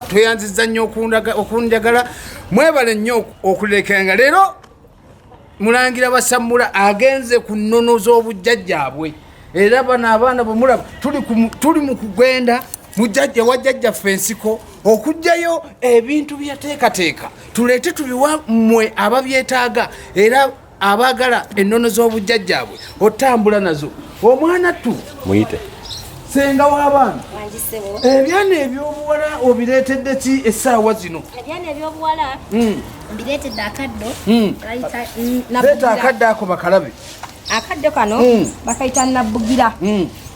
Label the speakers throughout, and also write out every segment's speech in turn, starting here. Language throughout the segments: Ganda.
Speaker 1: tweyanziza nnyo okunjagala mwebale nnyo okulekenga leero mulangira basammula agenze ku nnono z'obujjajjaabwe era bano abaana bwemulaba tuli mu kugenda mujjajja wa jjajjaffe ensiko okugjayo ebintu byeyateekateeka tuleete tubiwa mmwe ababyetaaga era abaagala ennono z'obujjajjaabwe otambula nazo omwana tu muyite
Speaker 2: senga
Speaker 1: w'abaana ebyana ebyobuwala obireetedde ki essaawa zino ebyana ebyobuwala
Speaker 3: hmm. mbireetedde akaddo hmm.
Speaker 1: leeta akadde ako bakalabe akaddo kano
Speaker 3: hmm. bakayita nabbugira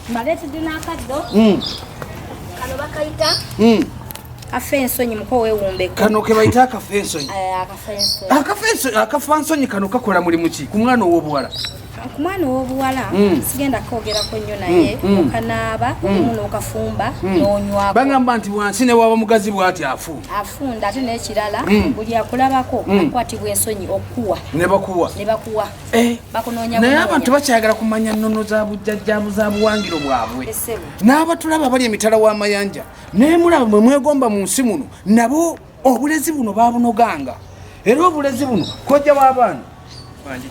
Speaker 3: mbaleetedde n'akaddo kano bakayita kafensonyi muko wewumbeko kano kebayita eh,
Speaker 1: akafensonyi akafensonyi akafansonyi kano kakola mulimu ki ku mwana ow'obuwala ku mwana
Speaker 3: ow'obuwala hmm. sigenda kogerako nnyo naye hmm, hmm. okanaaba omu n'okafumba n'onywako bagamba nti wansi ne
Speaker 1: waba mugazi bwati afu afunda ate
Speaker 3: n'ekirala buli akulabako akwatibwa ensonyi okukuwa ne bakuwa ne
Speaker 1: bakuwa eh.
Speaker 3: bakunoonya naye abantu
Speaker 1: bakyayagala kumanya nnono za bujjajjaabu za buwangiro bwabwe n'abatulaba abali emitala w'amayanja naye mulaba mwe mwegomba mu nsi muno nabo obulezi buno babunoganga era obulezi buno kojja w'abaana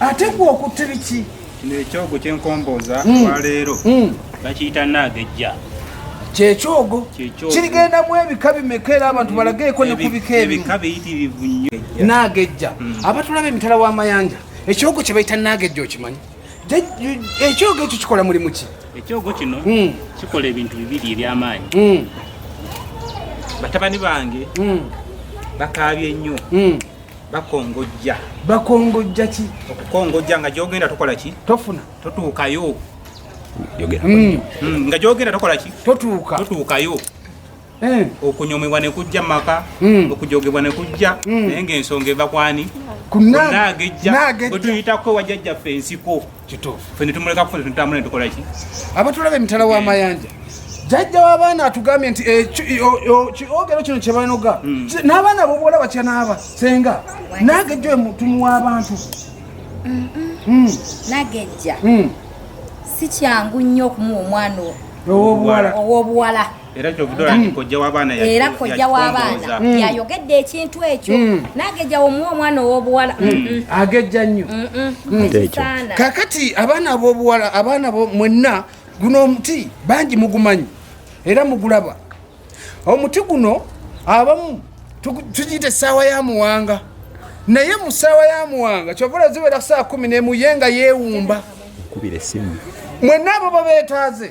Speaker 1: ate gwe okutte biki kino ekyogo
Speaker 4: kyenkombooza hmm. waleero hmm. bakiyita naagejja kyekyogo
Speaker 1: kirigendamu ebika bimeka era abantu hmm. balageeko ne ku bika ebika biyitirivu
Speaker 4: nnyo naagejja
Speaker 1: abatulaba emitala w'amayanja ekyogo kye bayita naagejja okimanyi ekyogo ekyo kikola mulimu ki ekyogo kino hmm.
Speaker 4: kikola ebintu bibiri ebyamaanyi hmm. batabani bange hmm. bakaabye nnyo bakongojja
Speaker 1: bakongojja ki okukongojja nga
Speaker 4: gyogenda tokola ki tofuna totuukayo nga gyogenda tokola ki totuukayo eh. okunyomebwa ne kujja mu maka hmm. okujogebwa ne kujja hmm. naye ng'ensonga eva kwani kunagejja bwe tuyita kwewa jjajjaffe ensiko fe ne tumuleka kufa tetutambula ne tukola ki abatulaba emitala
Speaker 1: w'amayanja jajja w'abaana atugambye nti eh, kiogero kino kye banoga hmm. n'abaana bobuwala batya n'aba senga nagejja oyo mutumu w'abantu
Speaker 3: nagejja si kyangu nnyo okumuwa omwana ow'obuwala era kyovude
Speaker 4: olaba nti kojja w'abaana ya- era kojja ya- w'abaana
Speaker 3: yakikombooza. Mm. yayogedde ekintu ekyo Mm. nagejja omuwa omwana ow'obuwala Mm. Mm-mm. agejja
Speaker 1: nnyo Mm-mm. Mm. Kisaana. kakati abaana abobuwala abaana bo mwenna guno omuti bangi mugumanyi era mugulaba omuti guno abamu tugu- tugiyita essaawa ya muwanga naye mu ssaawa ya muwanga kyovola ziwera saa kumi nemuye nga yeewumba kubira essimu mwenna abo babeetaaze